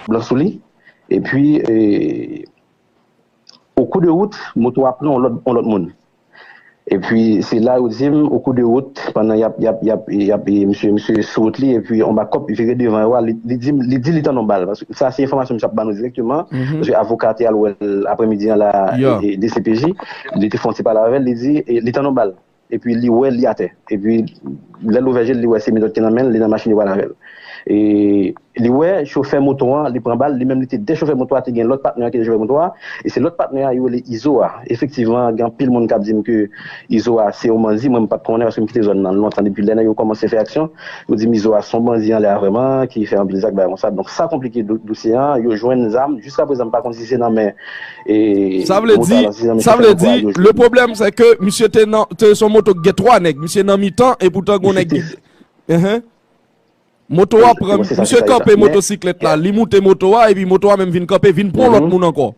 blan sou li epi o kou de wout moto a pran on lòt moun epi se la yo di m o kou de wout pandan y ap y ap misye sou wout li epi on bakòp vire devan yo a li di li tande on bal. sa se enfòmasyon misye ap ba nou direkteman, paske avoka a te al wè l aprè midi an la dcpj, li te fè yon ti pale avè l, li di li tann yon bal, epi li wè li atè, epi lè l ouvè je l li wè se menòt ki nan men l, li nan machin yo pale avè l. Li wè chofè moto an li pran bal, li menm li te dèyè chofè moto a, te gen lòt patnè an ki te chofè moto a, e se lòt patnè a yo rele Izo a, efektivman gen anpil moun k ap di m ke Izo a se yon banzi mwen m pat konnen paske m kite zòn nan lontan depi lè nèg yo kòmanse fè aksyon yo di m izo a se yon banzi anlè a vrèman ki fè anpil zak bagay konsa donk sa konplike dosye an yo jwenn zam jiska prezan m pa konn si se nan men Sa vle di sa vle di le pwoblèm se ke misye te nan te son moto ki gen 3 nèg misye nan mitan epoutan gon nèg ki Ehe moto a pran misye kanpe motosiklèt la li moute moto a epi moto a menm vin kanpe vin pran lòt moun ankò.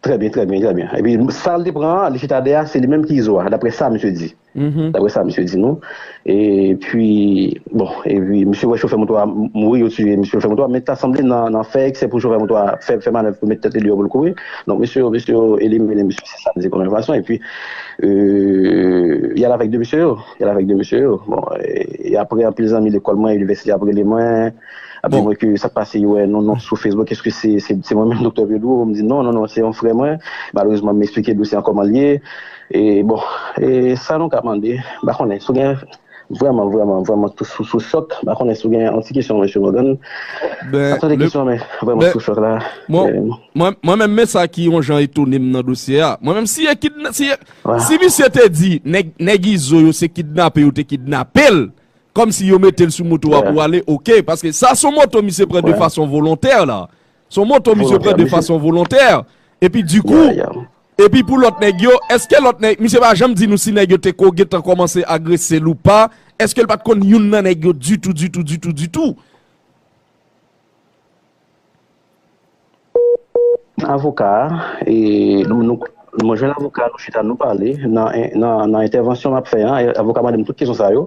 Trè byen, trè byen, trè byen. Epi sa l te pran an, li chita dèyè a, se li menm ki izo a, daprè sa misye di. Daprè sa misye di nou. Epi, bon, epi misye wè chofè moto a mouri, yo tiye misye chofè moto a, men ta sanble nan fè eksè pou chofè moto a fè manèv pou l met tèt li deyò pou l kouri. Donk misye yo, misye yo elimine misye, se sa m di kòm enfòmasyon. Epi, y al avèk de mesye yo, y al avèk de mesye yo. Bon, e aprè anpil zanmi lekòl mwen, inivèsite ap rele mwen. Api mwen ke sa pase yo wè non non sou Facebook eske se mwen menm Doktè Pedro m di non non non se yon frè mwen malerezman m esplike dosye an kòman l ye e bon e sa nou ka mande m pa konnen si w gen vrèman vrèman vrèman tou sou sou chòk m pa konnen si w gen yon ti kesyon Mesye Morgan m pa tande kesyon an men vrèman sou chòk la mwen menm men sa ki yon jan etone m nan dosye a mwen menm si e kidnap si misye te di nèg izo yo se kidnape yo te kidnape l Kòm si yo mete l sou moto wa pou ale ok. Paske sa son moto misye pran de fason volontè la. Son moto misye pran de fason volontè. E pi di kou. E pi pou lòt nèg yo. Eske lòt nèg. Misye pa janm di nou si nèg yo te ko gen tan kòmanse agrese l ou pa. Eske l pat konn youn nan nèg yo ditou ditou ditou ditou. Avoka a, e mwen jwenn avoka a nou chita nou pale, nan entèvansyon map fè an avoka mande m tout kesyon sa yo,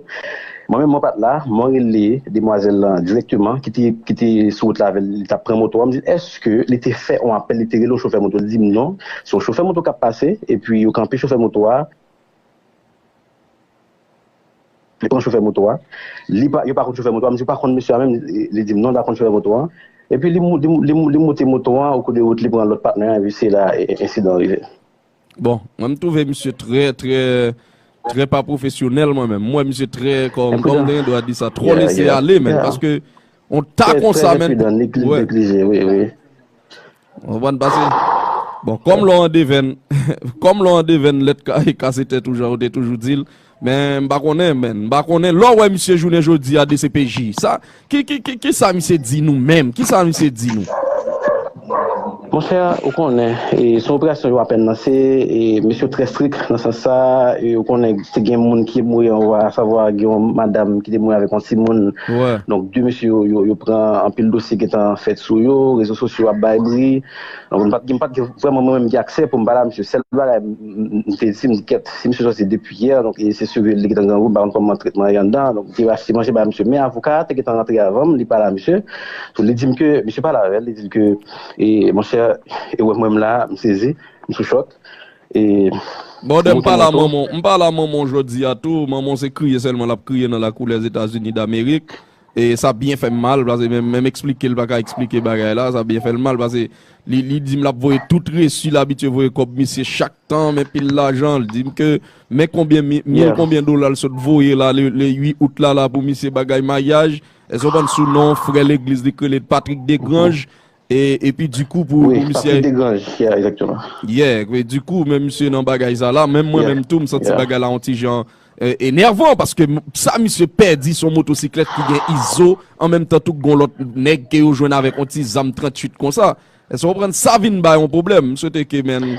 mwen menm mwen pat la, mwen rele demwazèl lan dirèkteman ki te sou wout la avèl li tap pran moto an, m di l èske li te fè yon apèl li te rele yon chofè moto, li di m non, se yon chofè moto kap pase epi yo kanpe chofè moto a. Li konn chofè moto a. Li pa, yo pa konn chofè moto a. M di ou pa konn mesye a menm? Li di m non, li pa konn chofè moto a. Epi li, li moute moto a, okou de wout li pran lòt patnè a epi se la ensidan rive. Bon, mwen m twouve misye trè, trè, trè pa pwofesyonèl mwen menm. M wè misye trè, kòm, kòm m te gen dwa di sa, twò lese ale menm. Paske On ta Trè konsa men. enpridan, li plis de plis je, wi, wi. Ou konprann pase? Bon, kòm lò an devèn, kòm lò an devèn lèt ka e kase tèt ou jan ou te toujou di l, men m pa konnen men, m pa konnen lò wè misye jounen jodi a dcpj sa ki ki ki sa misye di nou menm? Ki sa misye di nou? Monchè ou konnen se yon operasyon yo apèn lanse e mesye yo trè strik nan sans sa e ou konnen te gen moun ki mouri anwo a savwa gen yon madam ki te mouri avèk yon timoun donk 2 mesye yo yo pran anpil dosye gentan fèt sou yo rezo sosyo ap bay bri donk m pat gen m pat gen vrèman mwen menm ki aksè pou m pale a mesye sèl bagay m te di m di kèt si mesye sòti depi Pierre, donk e se sivil li ki te nan grangou, m pa konn kòman tretman an ye anndan an, donk m te rasi manje bay misye, men avoka a te gentan rantre avan m, li pale a misye, donk li di m ke, misye pale avè l, li di l ke, e monchè, e wè m wè m la a, m sezi, m sou chòk, e Bon de m pa la manman w, m pa la manman w jodi a tou, manman w se kriye sèlman l ap kriye nan lakou Lèzetazini Damerik, Sa byen fè m mal pase menm eksplike l pa ka eksplike bagay la, sa byen fè l mal pase li di m l ap voye tout resi l abitye voye kòb misye chak tan men pil lajan l di m ke men konbyen mil konbyen dola l sot voye la le 8 out la la pou misye bagay maryaj èske w konprann sou non frè legliz li k rele Patrick Degrange E epi di kou pou misye. Wi, papi Degrange ki a exactement. Yeah, e di kou men misye nan bagay sa la, menm mwen menm tou m santi bagay la on ti jan enervan paske sa misye pèdi son motosiklèt ki gen Izo an menm tan tou gon lòt nèg ke yo jwenn avèk on ti zam 38 konsa. Èske w konprann sa vin bay on pwoblèm. M swete ke men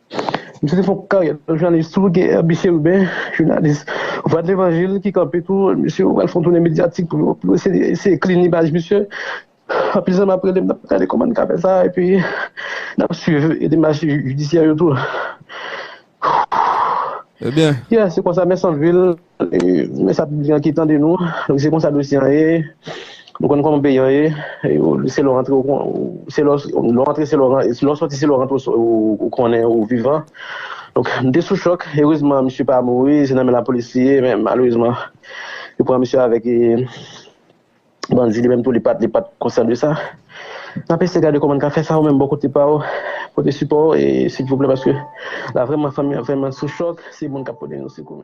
Misye te fè yon karyè nan jounalis tou, gen Herby Chérubin, jounalis Vwa de Levanjil ki kanpe tou, misye yo pral fè yon toune medyatik pou yo eseye klin imaj misye. Anpil zanmi ap rele m, n ap gade kòman n ka fè sa epi n ap swiv demach jidisyè yo tou. Ebyen. Yè, se konsa mè Santvil. Men sa piblik lan ki tande nou, se konsa dosye an ye, nou konn kòman peyi an ye, se lè w antre ou konnen, se lè w antre se lè w rantre, se lè w sòti se lè w rantre ou konnen ou vivan. Donk m te sou chòk, erezman misye pa mouri, se nan men lapolis li ye, men malerezman yo pran misye avèk bandi, li menm tou li pa t konsyan de sa. N ap eseye gade kòman n ka fè sa, ou menm bò kote pa ou pote sipò ou silvouplè paske la vrèman fanmi an vrèman sou chòk, se moun k ap pote nou sekou.